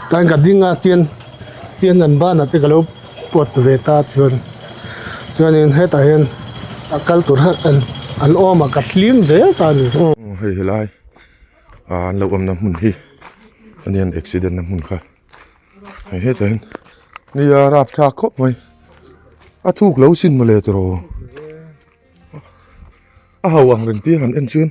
Tlai ka ding a tian tian an ban ah te ka lo puat ve ta chuan chuanin hetah hian a kal tur hauh ten an awm ah ka hlim zel ta a ni aw hei helai ah an lo awm na hmun hi a ni a an accident na hmun kha hei hetah hian ni a rap thlak khawp mai a thuk lo sin mawle tawh rua a hauh ang reng te han en chuan.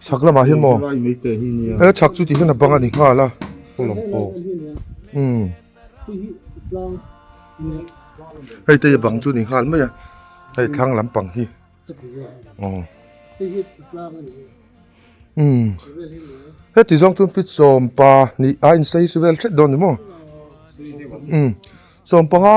Chhak lamah hian maw? He chhak chu tihna bang a ni nghal a. Hei te hi bang chu ni nghal mai a. Hei thlang lampang hi. Aw. Umm. Heti zawng chu fit sawmpa nih a insawi si vel thet dawn ni maw? Umm. Sawmpanga.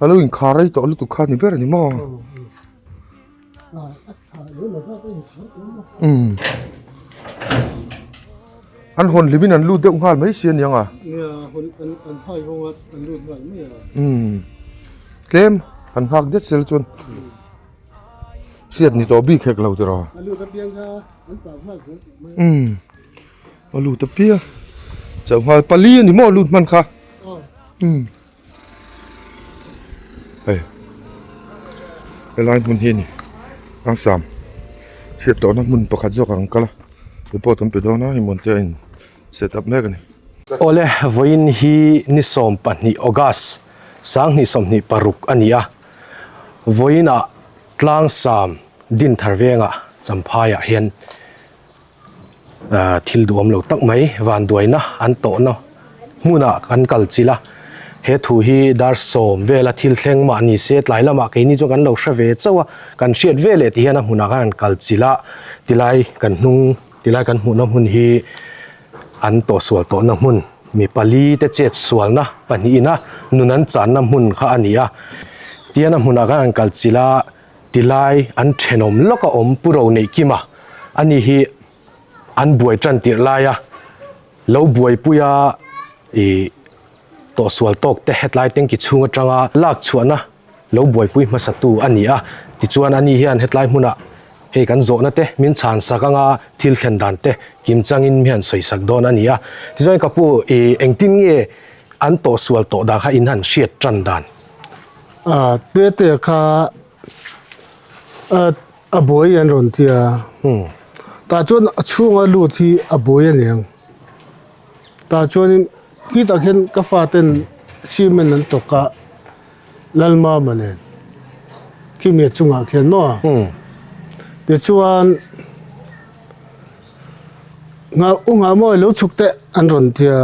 A lo inkhar rei tawh lutuk kha ni ber a ni maw umm an hawn hlim in an lut deuh nghal mai si a niang a umm tlem an nghak diat zel chuan hriat ni tawh bik hek lo tiraw umm a lut apiang chauh nghal pali a ni maw a lut hman kha umm. hei helai hmun hi ani angsam hriat loh na hmun pakhat zawk ang kal a report kan pe dawn a hmun te a in set up mek ani. Awle vawiin hi ni sawm pahnih August sang hnih sawmhnih paruk a ni a, vawiin ah tlang sam din thar veng ah Champhai ah hian, ah thil duh awmlo tak mai vanduaina an tawhna hmunah kan kal chilh a he thu hi dar sawm vela thil thleng mah ni se tlai lamah keini chu kan lo hre ve chauh a kan hriat ve leh tih hian a hmunah khan an kal chilh a tilai kan hnung tilai kan hmuhna hmun hi an tawhsual tawhna hmun mi pali te chet sualna pahnihin a nun an channa hmun kha a ni a tihian a hmunah khan an kal chilh a. ti lai an thenawm lawk a awm pu ro neih kim a, a ni hi an buai tan tirh lai a, lo buai pui a ih tawh sual tawk te hetlai tanki chhung atanga lak chhuahna lo buai pui hmasa tu a ni a, tichuan a ni hian hetlai hmunah hei kan zawhna te min chhan sak anga thil thlen dan te kim changin mi han sawi sak dawn a ni a, tichuan ka pu ih engtin nge an tawh sual tawh dan kha in han hriat tan dan. Aa teh teh kha ah a buai an rawn ti a. Hmm. Tah chuan a chhunga lut hi a buai a ni ang. Tah chuanin khi tak hian ka faten cement an tawk a, Lalmama nen khimi a chungah khian maw? Hmm. Tichuan nghah u nghah maw i lo chhuk teh an rawn ti a.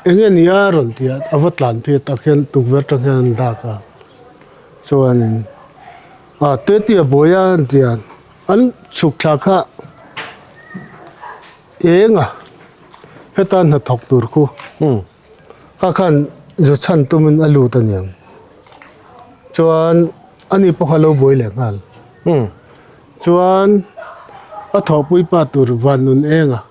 Eng a nia rawn ti a, a va tlan phei a tak hian tukverh atang hian an lak a, chuanin a tete a buai a an ti a, an chhuk thla kha eng a heta hnathawk tur khu kha khan zu chhan tumin a lut a nia, chuan ani pawh kha a lo buai leh nghal chuan a thawhpui pa tur vannun eng a.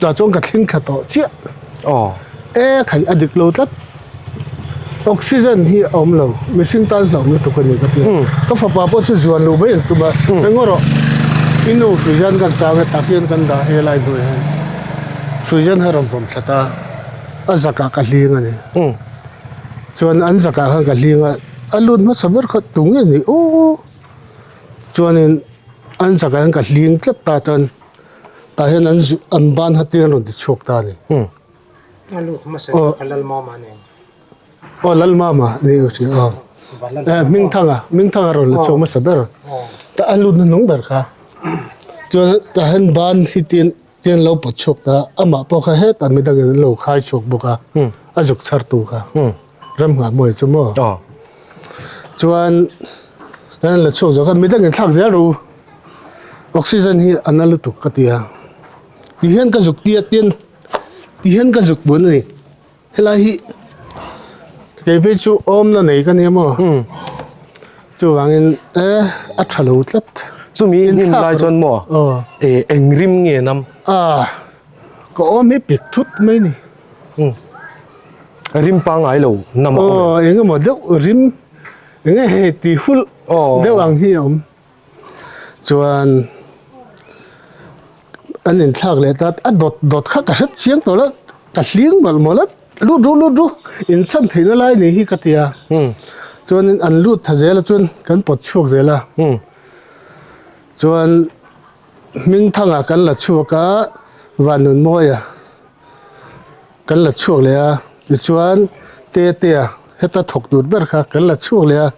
Tah chuan ka thling thla tawh chiah. Aw. E khaih a dik lo tlat. Oxygen hi a awm lo, mihring tan hlauh lutuk a ni ka ti a. Ka fapa pawh chu zuan lo mai an tum a, engaww rawh, i nu Frizan kan chang e, tah khian kan dah e lai hnuaiah hian Frizan ha rawn vawm tlat a, a zakah ka hling a ni. Chuan an zakah khan ka hling a, a lut hmasa ber khat tu ngei ni aw. Chuanin an zakah hian ka hling tlat ta chuan. Tah hian an zut an ban ha tlin an rawn ti chhuak ta a ni. Hm. A lut hmasa hi ka Lalma mah a nen. Aw Lalma mah a ni ka hria aw. Eh Hmingthanga, Hmingthanga rawn la chhuak hmasa ber. Tah a lut na hnawng ber kha. Chuan tah hian ban hi tlin tlin an lo pawt chhuak ta a. Amah pawh kha hetah midangin an lo khai chhuak bawk a, a zuk chhartu kha. Ramnghah Mawii chu maw? Aw. Chuan kan la chhuak zawh khan midang in thlak zel ro u. Oxygen hi a na lutuk ka ti a. Ti hian ka zuk tia tian ti hian ka zuk bun a ni. Helai hi kei phei chu awmna nei ka nia maw? Umm. Chuvangin e a tha lo tlat. Chumi i hlim lai chuan maw? Aw. E eng rim nge nam? Aw. Ka awm hi pik thut mai a ni. Rim pa ngai lo nam a awm em? Aw, engemaw deuh rim enge hei tih hulh deuh ang hi a awm. Chuan an inthlak leh ta, a dawt dawt kha ka hret chiang tawh loh, ka hling mawlh mawlh a, lut ru lut ru, inchhan theihna lai a ni hi ka ti a. Chuanin an lut tha zel a chuan kan pawt chhuak zel a. Chuan Hmingthanga kan la chhuak a, Vanunmawia. kan la chhuak leh a tichuan tetea heta thawk tur ber kha kan la chhuak leh a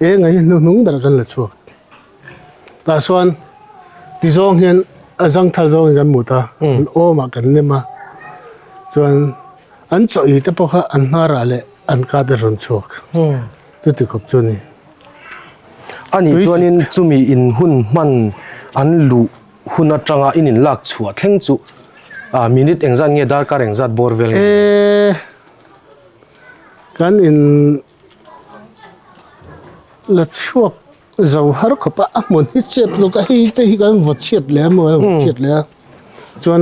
eng ahi hnuhnung ber kan la chhuak tah chuan ti zawng hian a zangthal zawngin kan mut a an awmah kan nem a chuan an chawih hi te pawh kha an hmarah leh an kata rawn chhuak chu ti khawp chu a ni a ni chuanin chumi in hun hman an luh. hun atanga in inlak chhuah thleng chu ah minute engzat nge darkar engzat bawr vel nge eee kan in la chhuak zo har khawp a a hmun hi chep lawk a hei te hi kan va chhiat leh a maw va chhiat leh a chuan.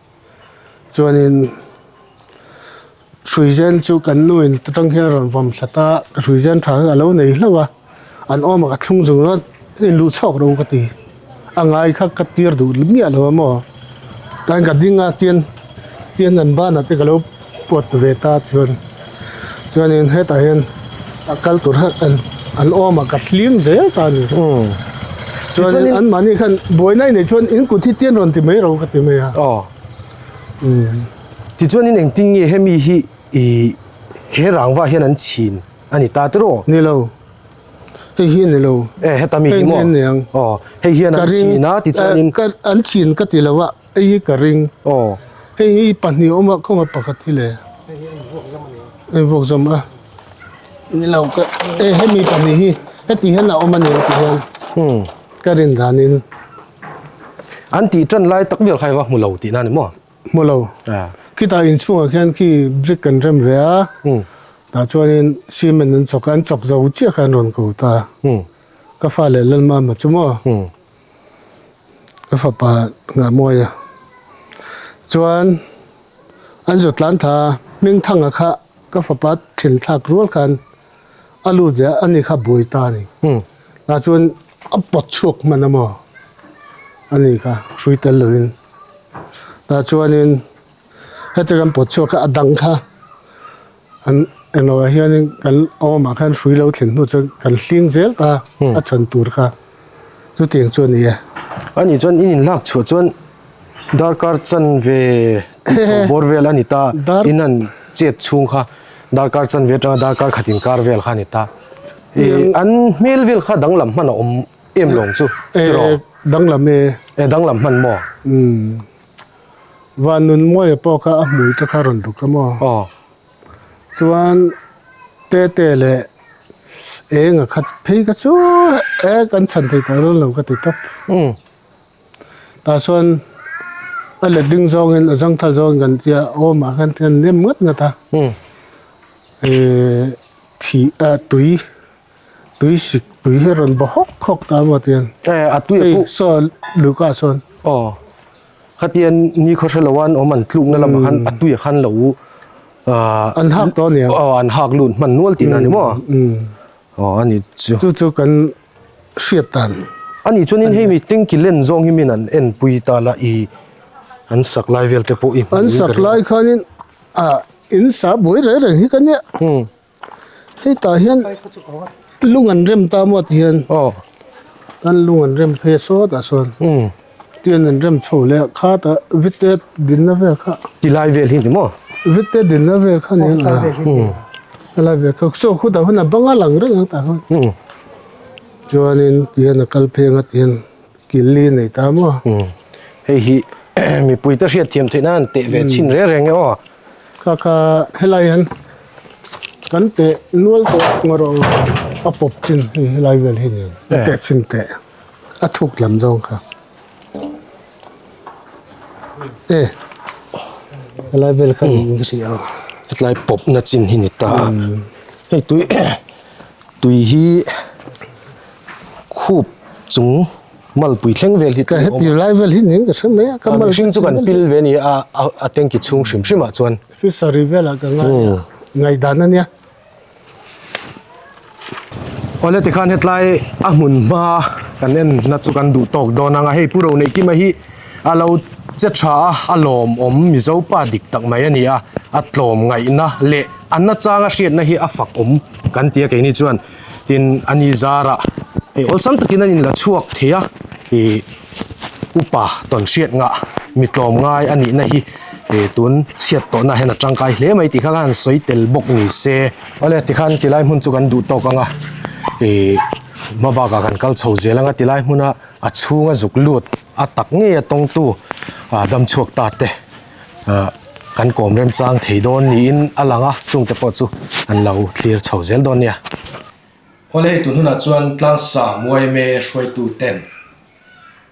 chuanin hrui zen chu kan nu in te tang hian rawn vawm thla ta a hrui zen tha hi a lo nei hlauh a an awm ang a thlung zung a in luh chauh ro ka ti a ngai kha ka tir duh miah lo a maw tlai ka ding a tian tian an ban ah te ka lo-- kuat ve ta chuan chuanin hetah hian a kal tur hauh an an awm a ka hlim zel ta a ni chuanin an mahni khan buaina inei chuan in kut hi tian rawn ti mai ro ka ti mai a aw umm tichuan in engtin nge hemi hi ih he rangva hian an chhin a ni ta tiraw ni lo hei hi a ni lo e heta mi hi maw hei hi a ni ang aw hei hian an chhin a tichuanin an chhin ka ti lo a Hei hi ka ring aw. Hei hi pahnih a awm a khawngaih pakhat hi le. Hei hi a invuak zawm a ni. A invuak zawm a ni lo ka e he mi pahnih hi heti hian a awm a ni tih hian ka rin dan in an tih tan lai tak vel kha heva hmu lo tih na a ni maw? Hmu lo. Khitah inchhungah khian khi brick kan rem ve a, tah chuanin cement an chawk a, an chawk zo chiah kha an rawn ko ta. Ka fa leh Lalma hma chu maw? ka fapa nghahmawia chuan an zutlan tha hming thanga kha ka fapa thinthlak rual khan a lut leh a ani kha buai ta ani tah chuan a pawt chhuak hman a maw ani kha hrui tel lovin tah chuanin heti kan pawt chhuak kha a dang kha. An en lo ah hian in kan awm ah khan hrui lo thlen hnu chuan kan hling zel ta a chhan tur kha chuti ang chu a ni e. A nih chuan in inlak chhuah chuan darkar chan ve tih chho bawr vel a ni ta in an chet chhung kha darkar chan ve atanga darkar khat in kar vel kha a ni ta an hmel vel kha danglam hman a awm em lo ang chu tiraw? Danglam e. E danglam hman maw? Umm. Van Nunmuaia pawh kha a hmui te kha rawn duk a maw? Aw. Chuan Tete leh Enga kha phei ka chuah e, kan chhan thei ta dawn lo ka ti tawp. Umm. Tah chuan a let ding zawngin a zangthal zawngin kan tia aw mah khan tian nem ngat ngat a. Umm. Thih a tui. tui hrik tui hi a rawn ba hawk hawk ta amaw tian hei saw luka sawn aw khatian nikhaw hre lo a an awm an tlukna lamah khan a tuiah khan lo ah an hak tawh aniang aw an hak lut hman nual tihna a ni maw aw a ni chu chu chu kan hriat dan a nih chuan in hemi tengki len zawng hi min an en pui ta la i an sak lai vel te pawh i hmuh in ka ringawt an sak lai khan in ah in sa buai reng reng hi ka nia. hetah hian lung an rem ta maw tih hian aw kan lung an rem phei a sawtah sawn tian an rem chho leh khat a vite dinna vel kha ti lai vel hi ni maw vite dinna vel kha nia aw ti lai vel hi ni maw ti lai vel kha ni saw khutah hun a bang a lang reng ang tah kha chuanin tian a kal pheng a tian. Kili a nei ta maw? Umm. Hei hi mipui ta hriat thiam theihna an teh ve chhin reng reng e aw. Kha kha, helai hian kan teh nual tawh ang erawh aw, a pawp chin hei helai vel hi nen. A teh chin teh, a thuk lam zawng kha. E, helai vel kha nih in ka hria aw. Hetlai pawpna chin hi ni ta a. Hei tui tui hi khup chung malpui thleng vel hi ka heti lai vel hi nen ka hrem mai a ka mal mihring chu kan pil ve a ni a a tank i chhung hrim hrim ah chuan fishery vel ah ka ngai a ngai dan a nia aw le tikhan hetlai a hmun hma kan en na chu kan duh tawk dawn ang a hei pu roneih kim a hi A lo che tha a, a lawm awm Mizo pa dik tak mai a ni a, a tlawm ngaihna leh a nachanga hriatna hi a fak awm kan ti a keini chuan. Tin, a ni zarah hei awlsam takin an inla chhuak thei a, ih upa tawn hriat ngah mi tlawm ngai a nihna hi ih tun chhiat tawhna ah hian a tangkai hle mai tih kha khan an sawi tel bawk ni se. Awle tikhan tilai hmun chu kan duh tawk ang a, ih hma bakah kan kal chho zel ang a tilai hmuna. a chhunga zuk lut a tak ngei a tawngtu ah dam chhuak ta te ah kan kawm remchang thei dawn niin a lang a, chungte pawh chu an lo thlir chho zel dawn nia. Khaw leh eitur hunah chuan tlangsa muaime hruaitu ten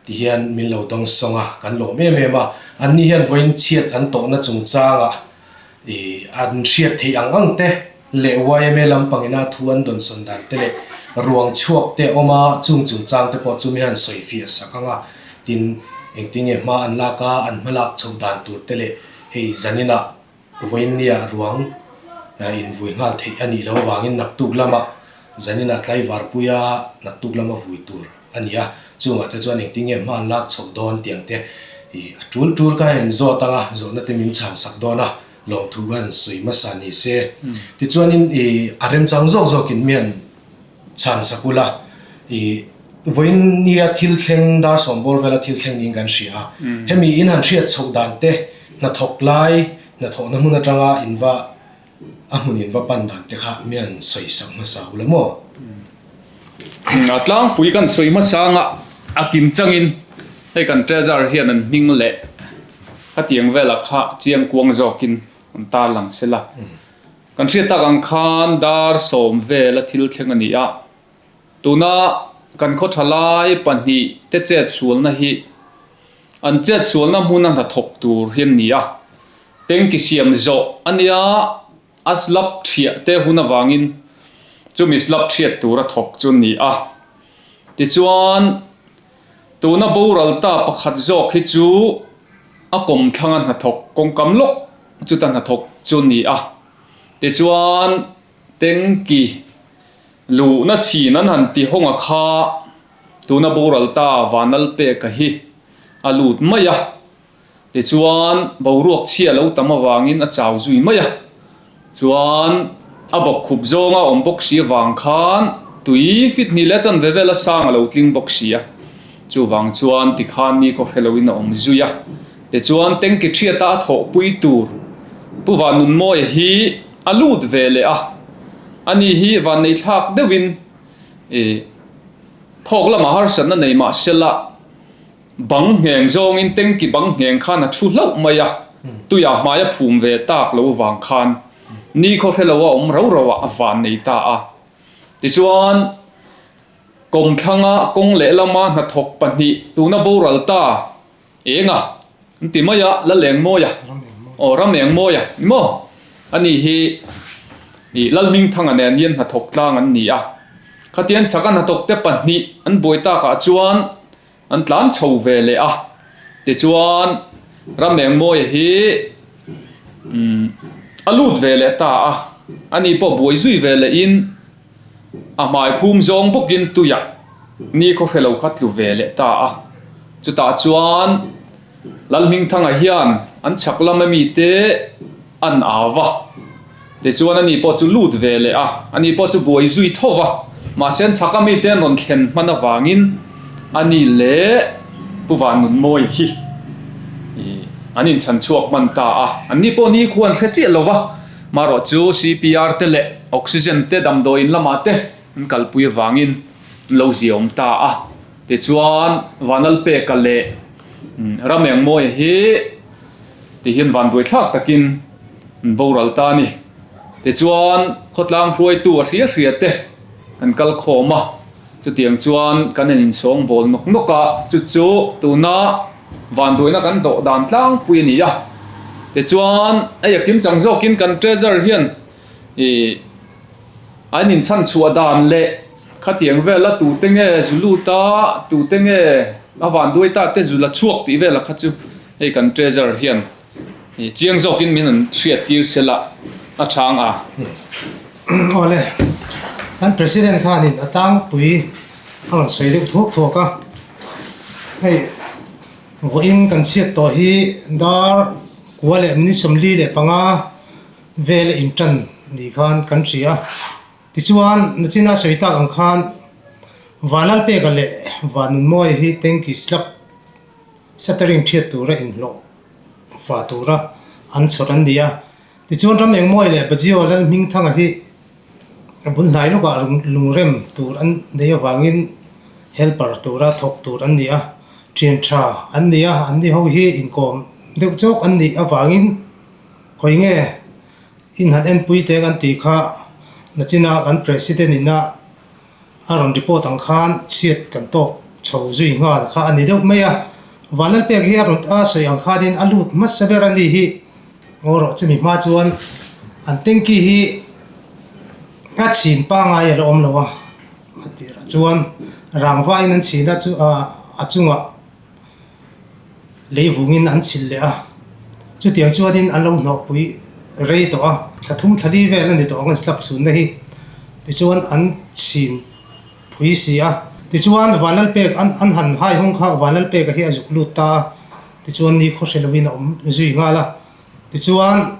ti hian min lo dawng sawng a, kan lawm em em a, anni hian vawiin chhiat an tawhna chungchangah, an hriat theih ang ang te leh yma lampangina thu an dawn sawn dan te leh ruang chhuak te awm a, chung chungchang te pawh chu mi han sawi fiah sak ang a, tin engtin nge hma an lak a, an hma lak chho dan tur te leh hei zanina vawinia ruang in vui nghal theih a nih loh avangin naktuk lama zanina tlaivarpuia naktuk lama vui tur. a ni a, chungah te chuan engtin nge hman lak chhoh dawn tiang te hi a tul tul ka rain zawt ang a, zawhna te min chhan sak dawn a, lawmthu kan sawi hmasa ni se. Tichuanin i a remchang zawk zawkin mian chhan sak ula i vawiin nia thil thleng dar sawmbawl vela thil thleng niin kan hria a, hemi in han hriat chhoh dan te hnathawk lai hnathawhna hmun atanga in va a hmunin va pan dan te kha mian sawisak hmasa ula maw? A tlangpui kan sawi hmasa anga a kim changin hei kan treasure hian an hming leh khatiang vela kha chiang kuang zawkin an tarlang sela. Kan hriat tak ang khan dar sawm vela thil thleng a ni a, tuna kan khawtha lai pahnih te chetsualna hi an chetsualna hmuna hnathawk tur hi an ni a, Tengki siam zawh a nia, a slap thiah te hun avangin chumi slap thiat tur a thawk chu ni a. Tichuan, tuna boral ta pakhat zawk hi chu a kawm thlanga hnathawk kawngkam lawk chuta hnathawk chu ni a. Tichuan, Tengki luhna chhin an han ti hawnga kha tuna boral ta Vanalpeka hi a lut mai a. Tichuan, boruak chhia lo tam avangin a chau zui mai a. Chuan, a bawk khup zawng a awm bawk si avang khan tui fit hnih leh chuan vevel a sang a lo tling bawk si a. Chuvang chuan tikhan mi khaw hre loin a awm zui a. Tichuan, tengki thiata a thawhpui tur Pu Vannunmawia hi a lut ve leh a. Ani hi vanneithlak deuhin khawk lamah harsatna nei mahsela, Bang ngheng zawngin tengki bang ngheng khan a thu hlauh mai a, tuiah hmaia phum ve tak lo vang khan ni khaw hre lo a awm rau rauah a van nei ta a. Tichuan, Kawmthlanga kawng leh lama hnathawk pahnih tuna boral ta eng a, an ti mai a, Lalengmawia, aw, Ramengmawia emaw, ani hi ih Lalhmingthanga nen hian hnathawk tlang an ni a. Khatian Chhaka hnathawkte pahnih an buai takah chuan An tlan chho ve leh a. Tichuan Ramengmawia hi umm a lut ve leh ta a. Ani pawh buai zui ve leh in a hmai phum zawng bawk in tuiah ni khawhre lo kha tlu ve leh ta a. Chutah chuan Lalhmingthanga hian an chhak lama mite an au va, tichuan a ni pawh chu lut ve leh a, a ni pawh chu buai zui tho va. Mahse an chhaka mite an rawn thlen hman avangin a ni leh Pu Vannunmawi hi an inchhan chhuak hman ta a, an ni pawh nikhua an hre chiah lo va, marawh chu CPR te leh oxygen te damdawiin lamah te an kalpui avangin an lo ziaawm ta a. Tichuan, Vanlalpeka leh Ramengmawia hi tihian vanbuaithlak takin an boral ta a ni. Tichuan, khawtlang hruaitu a hria hria te kan kal khawm a, chutiang chuan kan han insawng bawl nawk nawk a, chu chu tuna vanbuaina kan dawh dan tlangpui a ni a. Tichuan, a yakim chang zawkin kan treasure hian ih an inchhan chhuah dan leh. Khatiang vel a tute nge zu lut a, tute nge a van duai ta te zu la chhuak tih vel a kha chu hei kan treasure hian chiang zawk in min han hriat tir se la a chhang a. Awle kan president khan in a tlangpui a rawn sawi deuh thuak thuak a, hei vawi in kan chhiat tawh hi dar kua leh mini sawmli leh panga vel a in tan ni khan kan hria. Tichuan, nachina sawi tak ang khan van lal peka leh van nun mawi hi tanki slab shattering thiat tura inhlawh fah tura an chhawt an ni a. Tichuan, ram eng mawi leh Bajaw Lalhmingthanga hi bul hnai lawkah lungrem tur an nei avangin helper tura thawk tur an ni a, thiantha an ni a, an ni ho hi inkawm deuh chawk an nih avangin khawi nge Inhat enpui te kan tih kha Lachina kan President in a a rawn report ang khan chhiat kan tawk chho zui nghal kha a ni deuh mai a, Van Lalpiak hi a rawn a sawi ang khanin a lut hmasa ber a nih hi, boruak chumi hma chuan an tanky hi a chhin pangai a la awm lo a, a tirah chuan rangva in an chhin a a chungah. leivungin an chhilh leh a, chutiang chuanin an lo hnawhpui rei tawh a. Thla thum thla li vel a ni tawh ang an slap chhunna hi, tichuan an chhin phui si a. Tichuan Van Lalpek an han haihawng kha Van Lalpek a hi a zuk lut ta a, tichuan ni khaw hre lovin a awm zui nghal a. Tichuan,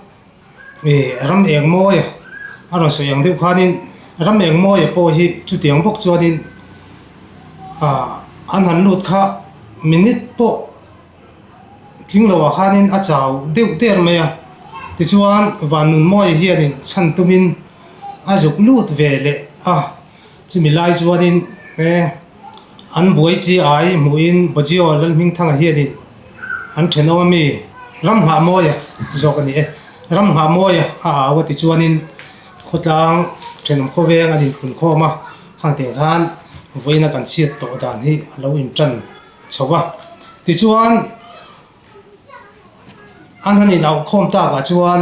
i ram engmawia a rawn sawi ang deuh khanin, ram engmawia pawh hi chutiang bawk chuanin an han lut kha minute pawh tling lo ah khanin a chau deuh der mai a. Tichuan, vannunmawia hianin chhan tumin a zuk lut ve leh a. Chumi lai chuanin he an buai chi ai hmuhin Bojio Lalhmingthanga hianin an ṭhenawma mi Ramhnga Mawia zawk a ni e. Ramhnga Mawia a au a tichuanin khawtlang ṭhenom khawveng an inpun khawm a, khang te khan vawiina kan chhiat tawh dan hi a lo inṭan chho va. Tichuan an han inauh khawm takah chuan.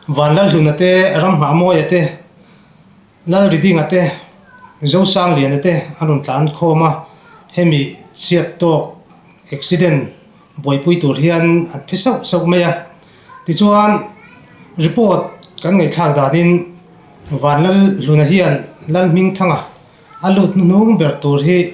Van Lalhluna te, Ramhngamawia te, Lalridinga te, Zosangliana te an rawn tlan khawm a, hemi chhiat tawk accident buaipui tur hian an phe sauh sauh mai a. Tichuan report kan ngaihthlak danin Van Lalhluna hian Lalhmingthanga a lut hnu hnung ber tur hi,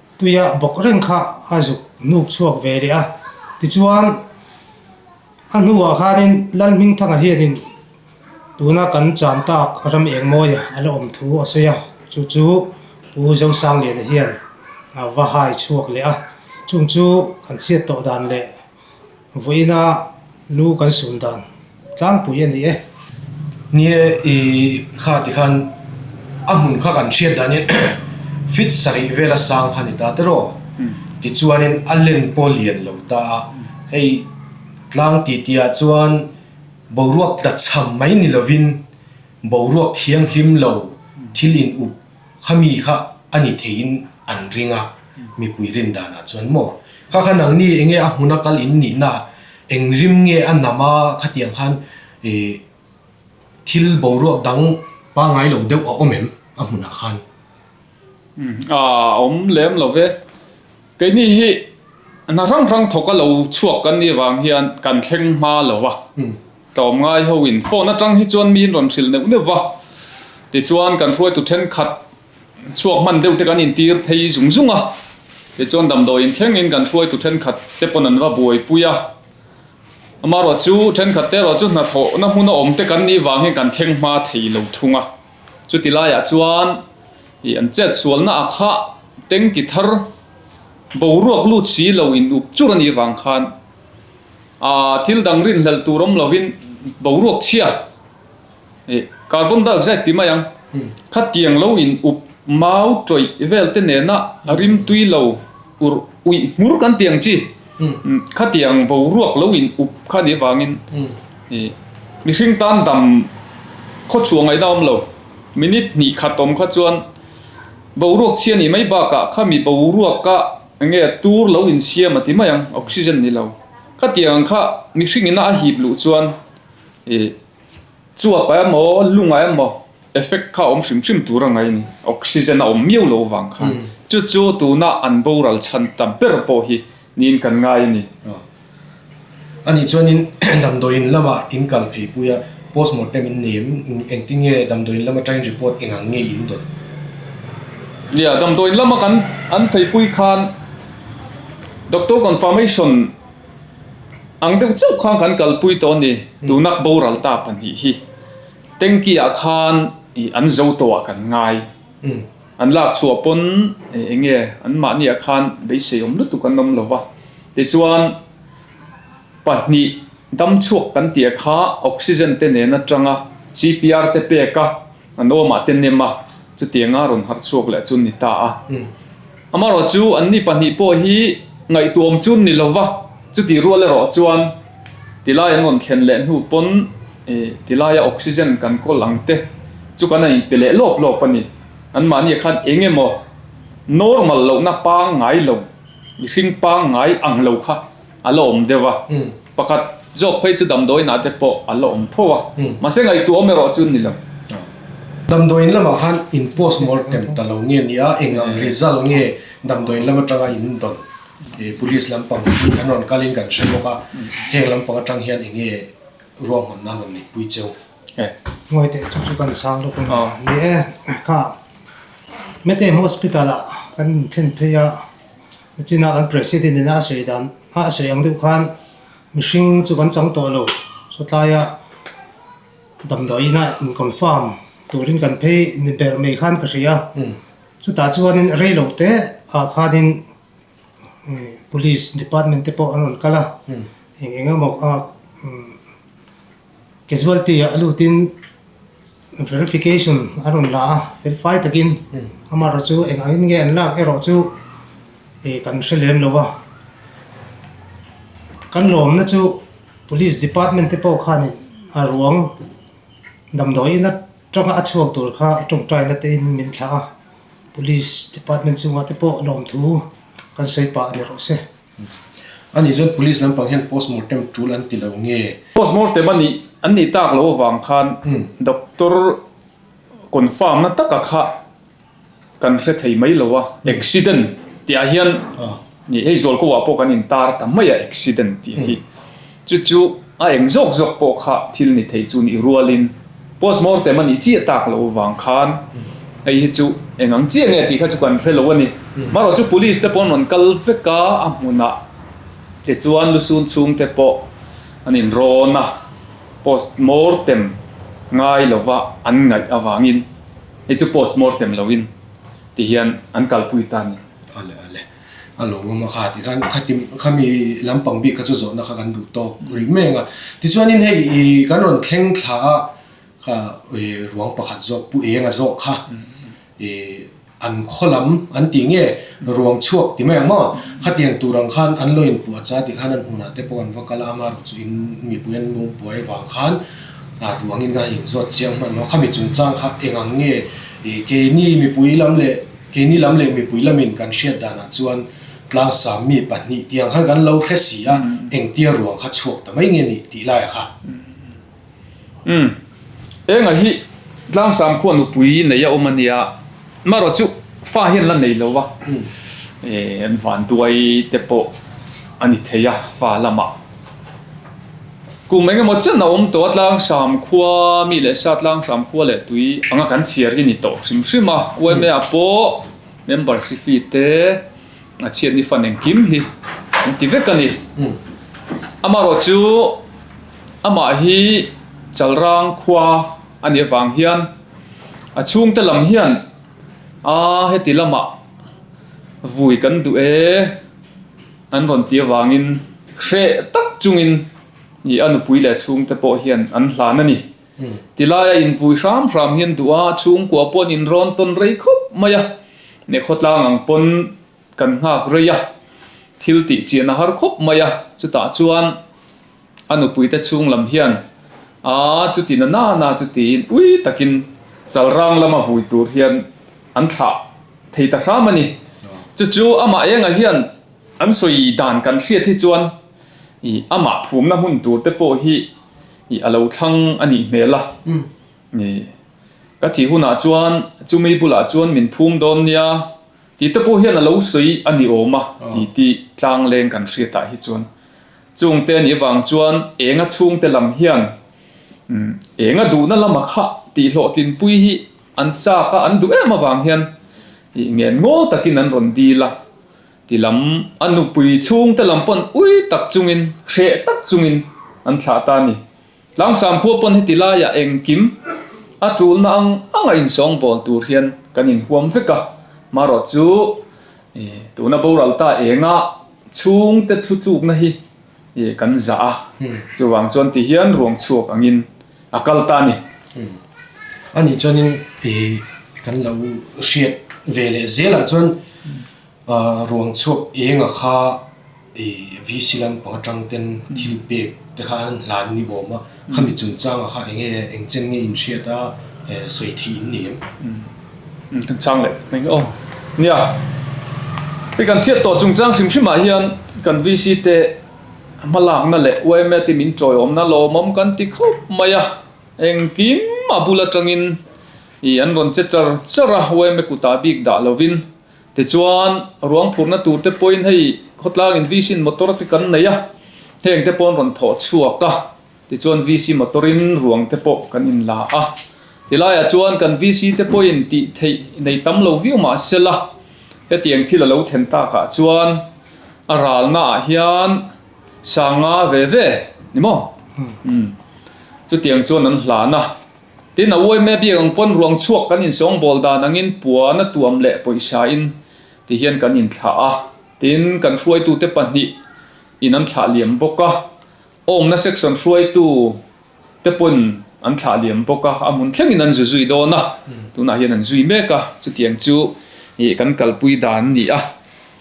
Tuia bawk reng kha a zuk nuk chhuak ve leh a. Tichuan, a hnuah khanin Lalhmingthanga hianin tuna kan cham tak ram engmawia a la awm thu a sawi a. Chu chu Pu Zosang Liana hian a va hai chhuak leh a. Chung chu kan chhiat tawh dan leh Vawiina lu kan sun dan tlangpui a ni e. Nia i kha ti khan a hmun kha kan hriat dan e, Fit sarih vela sang kha ni ta te raw? ti chuanin a len pawh lian lo ta a, hei tlang titiah chuan boruak tla chham mai ni lovin boruak thianghlim lo thil in up. Khami kha a ni theiin an ring a, mipui rindanah chuan maw? Kha khan ang ni enge a hmuna kal in nihna eng rim nge a nam a khatiang khan thil boruak dang pangai lo deuh a awm em a hmunah khan? A awm lem lo ve. Keini hi hna hrang hrang thawk a lo chhuak kan nih vang hian kan thleng hma lo va, tlawm ngai ho in phone atang hi chuan miin rawn hrilh neuh neuh va, tichuan kan hruaitu thenkhat chhuak hman deuh te kan in tir phei zung zung a, tichuan damdawi in thleng in kan hruaitu thenkhat te pawn an va buai pui a, amaherawhchu thenkhat te erawh chu hna thawh na hmun a awm te kan nih vang hian kan thleng hma thei lo thung a. Chuti laiah chuan ih an chet sualna ah kha tengki thar boruak lut si lo in uk chur a nih vang khan aa thil dang rinhlelh tur awm lo in boruak chhia ih carbon dioxide ti mai ang kha tiang lo in uk mau tawih vel te nen a rim tui lo ur uih hmur kan ti ang chi. Khatiang boruak lo in up kha nih vangin mihring tan dam khawchhuah ngaih dang a awm lo. Minute hnih khat awm kha chuan boruak chhia nih mai bakah kha mi boruaka eng nge tur lo in siam a ti mai ang, oxygen ni lo. Khatiang kha mihring ina a hip luh chuan. Chuapa emaw lunga emaw effect kha awm hrim hrim tur angai ni, oxygen a awm miau lo vang khan. Chu chu tuna an boral chhan ta ber pawh hi niin kan ngai a ni. Ani chuanin damdawiin lama in kal phei pui a, postmortem in nei em? Engtin nge damdawiin lama train report eng ang nge in dawn? Nia, damdawiin lama kan an phei pui khan doctor confirmation. Ang deuh chauh khan kan kalpui tawh a ni. Tunak boral ta pahnih hi tanki ah khan an zo tawh ah kan ngai. An lak chhuah pawn eng nge an mahni ah khan beiseiawm lutuk an awm lova. Tichuan pahnih dam chhuak kan tih ah kha oxygen te nen atanga CPR te pek a. An awmah te nem a, chutianga rawn har chhuak leh chu ni ta a. Amarawh chu anni pahnih pawh hi ngaihtuam chun ni lo va, chuti rual erawh chuan ti lai an rawn thlen leh hnu pawn ti laia oxygen kan kawl ang te chu kan a inpe leh lawp lawp a ni. An mahni ah khan eng emaw normal lohna pangngai lo, mihring pangngai ang lo kha a la awm deuh a, pakhat zawk phei chu damdawiinah te pawh a la awm tho a, mahse ngaihtuah awm erawh chu ni lo. Damdawiin lamah khan in post mortem ta lo nge nia, eng ang result nge damdawiin lam atanga in dawn police lampang hi an rawn kalin kan hre bawk a, heng lampang atang hian eng nge ruahman nan rawn nih pui cheu. Ngawi teh chu chu kan sang lutuk a ni e, kha Meteim Hospital ah kan thin phei a, A chinah kan President in a sawi dan hah a sawi ang deuh khan mihring chu kan chang tawh lo, chutlaia damdawiin a inconfirm turin kan phei ni ber mai khan ka hria, chutah chuanin rei lo teah khanin Police Department te pawh an rawn kal a, eng eng emaw. Casualty ah a lutin verification a rawn la a, felfai takin amaherawh chu eng ang in nge an lak erawh chu ih kan hre lem lo a. Kan lawmna chu Police Department te pawh khanin a ruang damdawiin atanga a chhuak tur kha a tawngtaina tein min thlah a, Police Department chungah te pawh lawmthu kan sawi pah a ni reuh se. Ani chuan police lampang hian postmortem tul an ti lo nge? Postmortem a nih an nih tak lo avang khan doctor confirm na taka kha kan hre thei mai lo a, accident tih ah hian hei Zawlkova pawh kan in tar ta mai a accident tih hi. Chu chu a eng zawk zawk pawh kha thil ni thei chu nih rualin postmortem a nih chiah tak loh vang khan hei hi chu eng ang chiah nge tih kha chu kan hre lo a ni. Marawh chu police te paw'n rawn kal vek a, a hmunah che chuan lu sun chhung te pawh an in rawn a, postmortem ngai lova an ngaih avangin hei chu postmortem lo in ti hian an kalpui ta a ni. A lo ngam a, kha tikhan kha tim khami lam pang bik kha chu zawhna kha kan duh tawk ri meng a. Tichuanin hei i kan rawn thleng thla a kha i ruang pakhat zawk pu enga zawk kha i an khaw lam an tih nge ruang chhuak ti mai ang maw? Khatiang tur ang khan an lo in puh a cha tikhan an hunah te pawh an va kal a, ama erawh chu in mipui an lo buai avang khan ruangin ka han in zawt chiang hman lo. Khami chungchang kha eng ang nge i keini mipui lam leh. Keini lam leh mipui lamin kan hriat danah chuan tlang sam mi pahnih tiang khan kan lo hre si a, engtia ruang kha chhuak ta mai nge ni tih laia kha. Umm, enga hi tlang sam khuan nupui neih a awm a nia, marawh chu fa hian la nei lo a, eeh an vanduai te pawh a ni thei a fa lamah. Kum eng emaw chiahna awm tawh atlang sam khua mi leh sa tlang sam khua leh tui anga kan chhiar hi ni tawh hrim hrim a yma pawh membership fee te a chhiat ni fan engkim hi an ti vek a ni amarawh chu amah hi chalrang khua a nih avang hian a chhungte lam hian aa heti lamah vui kan duh e. An rawn ti avangin hreh tak chungin i a nupui leh chhungte pawh hian an hlan a ni. Ti lai a invui hram hram hian duh a, chhungkua pawh an inrawn tawn rei khawp mai a, nekhaw tlang ang pawn kan nghak rei a, thil tih chiahna har khawp mai a, chutah chuan. A nupuite chhung lam hian, Aa, chuti na nana chu tiin ui takin Chalrang lama vui tur hian an thlah thei ta hram a ni. Chu chu amah eng ah hian an sawi dan kan hriat hi chuan i amah phumna hmun tur te pawh hi i a lo thlang a nih hmel a ni. Ka thi hun ah chuan chu mi bulah chuan min phum dawn nia tih te pawh hian a lo sawi a ni awm a titi tlangleng kan hriat ah hi chuan Chungte nih vang chuan enga chhungte lam hian enga duhna lama kha tihlawhtlinpui hi an chak a, an duh em avang hian i ngen ngaw takin an rawn dil a ti lam a nupui chhungte lam pawn ui tak chungin hreh tak chungin an thlah ta a ni. Tlangsam khua pawn heti laia engkim a tulna ang anga insawng bawl tur hian kan inhuam vek a, marawh chu tuna boral ta enga chhungte thlu tlukna hi kan zah a, chuvang chuan tihian ruang chhuak angin a kal ta a ni. Ani chuanin kan lo hriat veleh zelah chuan. A ruang chhuak enga kha VC lampang atang ten thil pek te kha an hlan ni awm a, khami chungchang a kha eng nge eng chen nge in hriat a sawi thei in ni em? Chungchang leh thank you nia i kan chhiat tawh chungchang hrim hrim ah hian kan VC te hma lak na leh YMA team in chawi awm na lawmawm kan ti khawp mai a, engkim a bul atang in i an rawn che char char a YMA kut ah bik dah lo in Tichuan, ruang phurhna tur te pawhin hei khawtlang in VC-in motor te kan nei a, heng te pawh an rawn thawh chhuak a, tichuan VC motor in ruang te pawh kan in la a. Ti laiah chuan kan VC te pawhin tih theih nei tam lo viau mah se la, hetiang thil a lo thlen tak ah chuan a ralna ah hian sanga ve ve ni maw? Chutiang chuan an hlan a. Tin, a uaimna biak ang pawn ruang chhuak kan insawngbawl dan angin puana tuam leh pawihsahin ti hian kan inthlah a. Tin, kan hruaitute pahnih in an thlah liam bawk a, awmna section hruaitu te pawn an thlah liam bawk a, a hmun thlengin an zu zui dawn a, tunah hian an zui mek a, chutiang chu kan kalpui dan a ni a.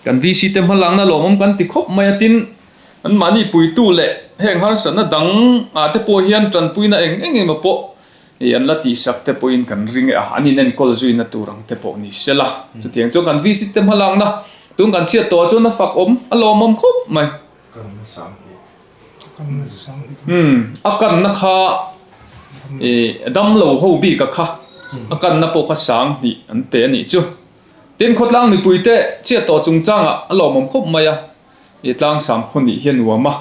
Kan VC te hmalakna lawmawm kan ti khawp mai a, tin, Anmahni puitu leh heng harsatna dang ah te pawh hian tanpuina eng eng emaw pawh ih an la tihsak te pawhin kan ring e a, an inenkawl zui na tur ang te pawh ni sela. Chutiang chuan kan visit te hmalak na tun kan chhiat tawh ah chuan a fak awm, a lawmawm khawp mai. Umm, a kanna kha ih damlo ho bik a kha, a kanna pawh kha sang hnih an pe a nih chu. Tin khawtlang mipui te chhiat tawh chungchang ah a lawmawm khawp mai a, I tlang sam khaw nih hi a nuam a,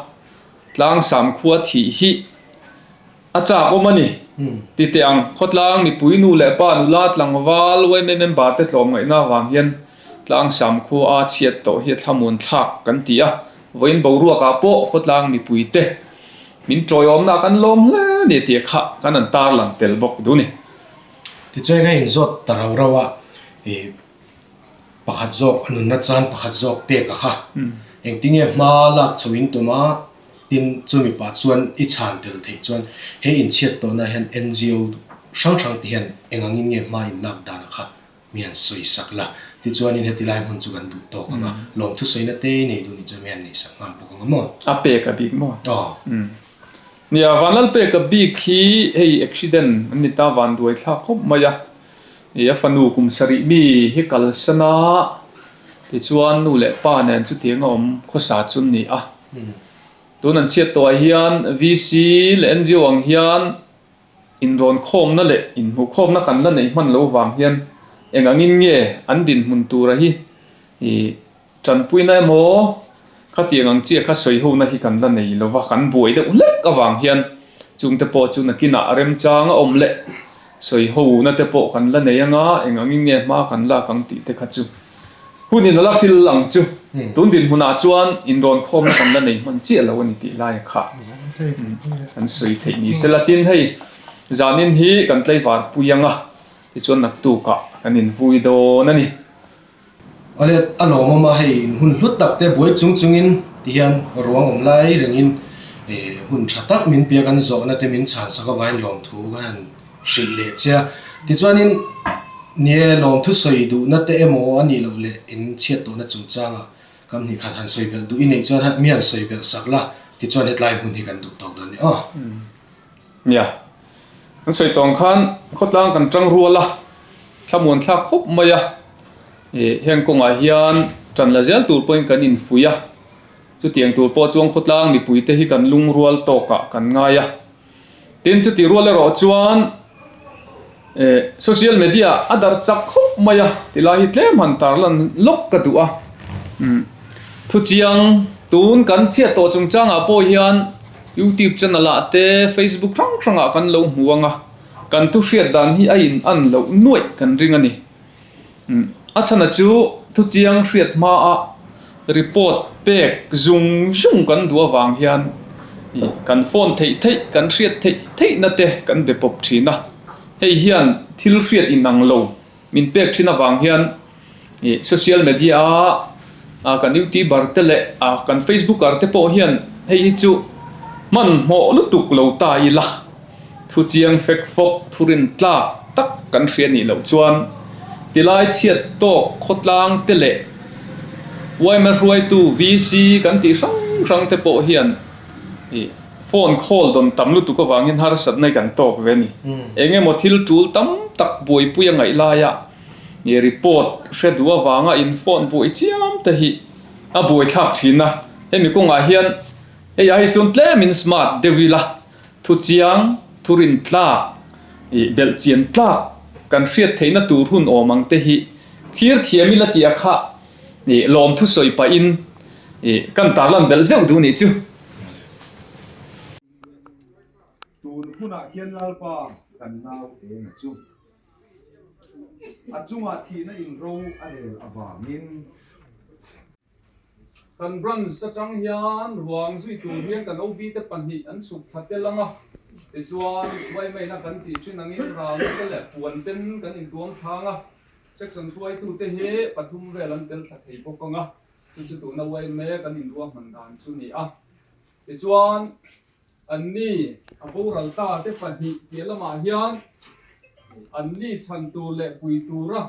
tlang sam khua thih hi a chak awm a ni ti teh ang. Khawtlang mipui nu leh pa nula tlangval YMA member te tlawm ngaihna avang hian tlang sam khua a chhiat tawh hi a thlamun thlak kan ti a, vawiin boruak ah pawh khawtlang mipui te min tawi awmna ah kan lawm hle a ni tih kha kan an tarlang tel bawk duh a ni. Tichuan ka in zawt ta rau rau a, i. Pakhat zawk a nunna chuan pakhat zawk pek a kha. Engtinge hma lak chho in tum a? Tin, chu mipa chuan i chhan tel theih chuan, He inchhiat tawhna hian NGO hrang hrang te hian eng angin nge hma in lak dan a kha? Mi an sawi sak la. Tichuanin heti lai hmun chu kan duh tawk ang a. Lawm thusawiina te nei duh nih chuan mi an neih sak nghal bawk ang a maw? A pek a bik maw? Aw. Nia, Vanlal pek a bik hi hei accident an ni ta, van duai thlak khawp mai a. Ih, a fanu kum sarih mi hi kalsan a, tichuan nu leh pa nen chutiang a awm khawsa chu a ni a. Tun an chhiattuai hian VC leh NGO ang hian inrawnkhawmna leh inhmuhkhawmna kan la neih hman lo vang hian eng angin nge an dinhmun tura hi ih, Tanpuina emaw khatiang ang chiah kha sawi hona hi kan la nei lo va, kan buai deuh hlek avang hian chungte pawh chu nakinah remchang a awm leh sawi hona te pawh kan la nei anga eng angin nge hma kan lak ang tih te kha chu hunin a la thil ang chu. Tun dinhmunah chuan inrawn khawmna kan la nei hman chiah lo a ni tih lai kha kan sawi theih ni se la, tin hei zanin hi kan tleivar pui anga tichuan naktukah kan invui dawn a ni. A let a lawm awm a, hei in hun hlut tak te buai chung chung in ti hian ruang awm lai reng in hun tha tak min pek an zawh na te min chhan sak avai in lawm thu kha han hrilh leh che a, ti chuan in ni e lawm thu sawi duh na te emaw a nih loh leh in chhiat tawh na chung chang a kam hnih khat han sawi belh duh i neih chuan mian sawi belh sak la ti chuan hetlai hmun hi kan duh tawk dawn nia. Nia. An sawi tawng khan khawtlang kan tang rual a, thlamuan thlak khawp mai a. Ih, heng kawngah hian tan la zial tur pawhin kan infui a, chutiang tur pawh chuan khawtlang mipuite hi kan lungrual tawkah kan ngai a. Tin, chutih rual erawh chuan. Eh, social media a dar chak khawp mai a, ti lai hi tlem han tar lan lawk ka duh a. Umm, thu chiang tun kan chhiat tawh chung changah pawh hian YouTube channel ah te, Facebook hrang hrangah kan lo hmu ang a, kan thu hriat dan hi a in an loh nuaih kan ring a ni. A chhana chu thuchiang hriat hmaa report pek zung zung kan duh avang hian kan phone theih theih, kan hriat theih theihna te kan be pawp thin a. Hei hian thil hriat inang lo min pek thin avang hian social media a A kan youtuber te leh a kan facebooker te pawh hian hei hi chu hmanhmawh lutuk lo ta ila, thu chiang fek fawp thurin tlak tak kan hria nih loh chuan tilai chhiat tawk khawtlang te leh uaima hruaitu VC kan tih hrang hrang te pawh hian phone call dawn tam lutuk avangin harsatna hi kan tawk ve a ni. Engemaw thil tul tam tak buaipui a ngaih laia. I report hre duh avanga in phone buai chiam te hi a buai thlak thin a, hemi kawngah hian hei a hi chuan tlem in smart deuh ila thu chiang, thu rin tlak, ih belh chian tlak kan hriat theih na tur hun awm ang te hi thlir thiam ila tih a kha ih lawm thu sawi pah in ih kan tarlan belh zeuh duh nih chu. Tun hunah hian lalpa kan nau em chu. A chungah thihna in ro a lel avangin. Kan branch atang hian ruang zui tur hian kan OB te pahnih an chhuk thla tel ang a, tichuan Vaimeinah kan tih chin angin ralna te leh puan ten kan in tuam thlang a, section hruaitu te hi pathum vel an tel thla thei bawk ang a, chu chu tuna Vaimei kan in ruahman dan chu ni a, tichuan Anni a boral ta te pahnih piah lamah hian anni chhan tur leh pui tura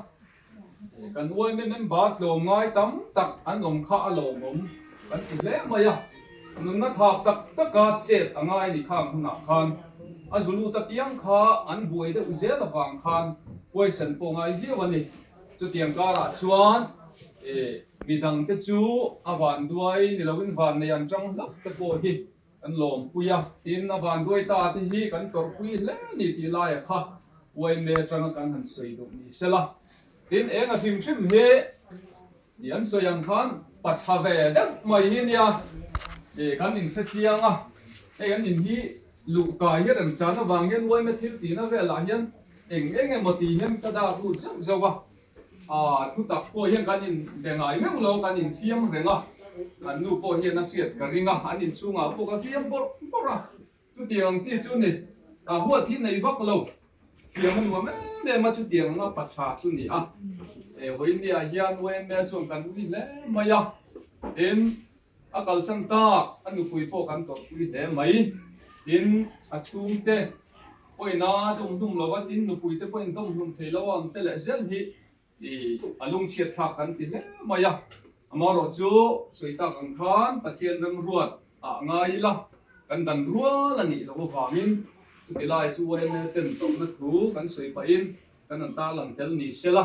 kan uaina member tlawm ngai tam tak an awm kha a lawmawm kan ti hle mai a. Nunna thap tak taka chet a ngai ni khang hunah khan a zu lut apiang kha an buai deuh zel avang khan poison pawh ngai viau a ni. Chutiang karah chuan mi dangte chu a vanduai ni loin vannei an chang hlauh te pawh hi Kan lawmpui a, tin a van duai ta te hi kan tawrhpui hle ni tih laia kha Uainme atanga kan han sawi duh ni se la, tin eng a hrim hrim hi ih an sawi ang khan pa tha ve deuh mai hi nia ih kan inhre chiang a, hei an in hi luh kai hi remchan avang hian Uaina thil tihna velah hian eng eng emaw ti hian ka dak lut zeuh zeuh a. A thutak pawh hian kan in be ngai meuh lo, kan in thiam reng a, kan nu pawh hian a hriat ka ring a, an in chhungah pawh ka fiam bawrh bawrh a, chutiang ang chi chu ni, ka huat hi nei vak lo, fiam a nuam em em a, chutiang anga pa tha chu ni a, e Hoynia hian Waymya chuan kan ri hle mai a, em A kalsan tak a nupui pawh kan tawrhpui hle mai. Tin, a chhungte pawhin a dawm hlum lo a, tin nupui te pawhin dawm hlum thei lo a, an te leh zel hi ih a lung chhiat thlak kan ti hle mai a. Amaherawhchu sawi tak ang khan Pathian remruat ah ngai ila kan dan rual a nih loh avangin chutihlai chu yml ten tawrhna thu kan sawi pahin kan han tarlang tel ni sela.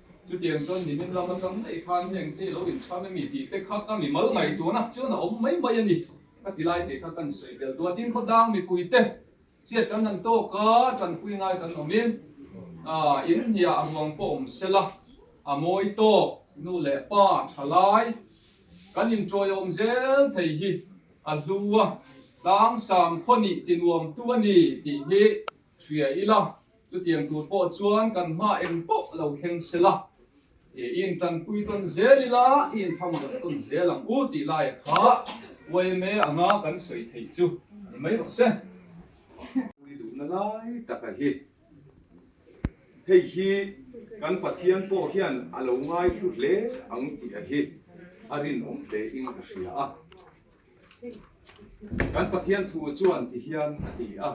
Chutiang chuan nimin lam atang daih khan heng te lo inchhuan a ni tih te kha ka mi mal ngaih tur ah chuan a awm mai mai a ni. Ka ti lai te kha kan sawi tel duah tin khaw dang mipui te chiat kan han tawk a, tanpui ngai kan awm in ah in hia a ruang pawh awm se la a mawi tawk nu leh pa tha lai kan in tawi awm zel thei hi a hlu a tlang sam khaw nih ti nuam tu a ni tih hi hria ila, chutiang tur pawh chuan kan hma en pawh lo thleng sela, i intanpui tawn zel ila, i inchham zawh tawn zel ang u tih laia kha YMA anga kan sawi theih chu ni mai rawh se. Pui duhna lai taka hi hei hi kan Pathian pawh hian a lo ngaithlu hle ang tih a hi a rinawm hle in ka hria a. Kan Pathian thu chuan ti hian a ti a,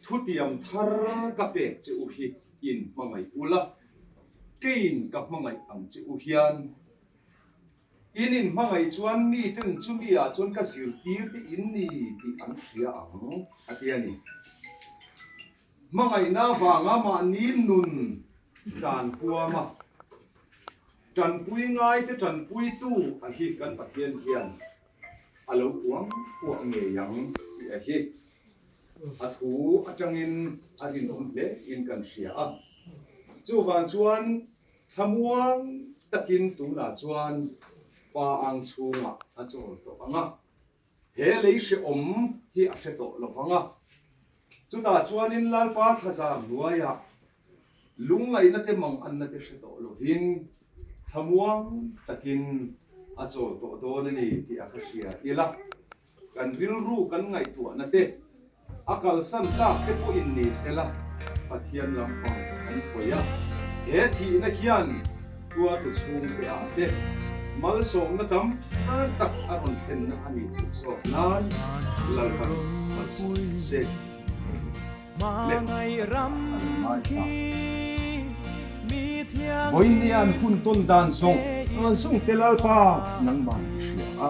Thutiam thar ka pek che u hi in hmangaih u la, keiin ka hmangaih ang che u hian. In in hmangaih chuan miten chumi ah chuan ka zirtir te in ni tih an hria ang a ti a ni. Hmangaihna vanga mahni nun chan huam a, tanpui ngai te tanpuitu a hi kan Pathian hian a lo puang puah ngei ang tih a hi a thu atangin a rinawm hle in kan hria a. Chuvang chuan thlamuang takin tunah chuan pa ang chhungah a chawl tawh ang a. He lei hrehawm hi a hre tawh lovang a, chutah chuanin Lalpa thlazar hnuaiah lungngainate manganna-te hre tawh lovin thlamuang takin a chawl tawh dawn a ni tih a ka hria ila kan rilru kan ngaihtuahnate, A kalsan tlak te pawhin ni sela Pathian lampang an hawi a. He thihna hian tuartu chhung teah te malsawmna tam than tak a rawn thlenna a nih duh zawk nan Lalpan malsawm duh se leh a tam a ni mai hna. Vawinia an hun tawn dan zawng rawn zung te Lalpa nangmah an hria a.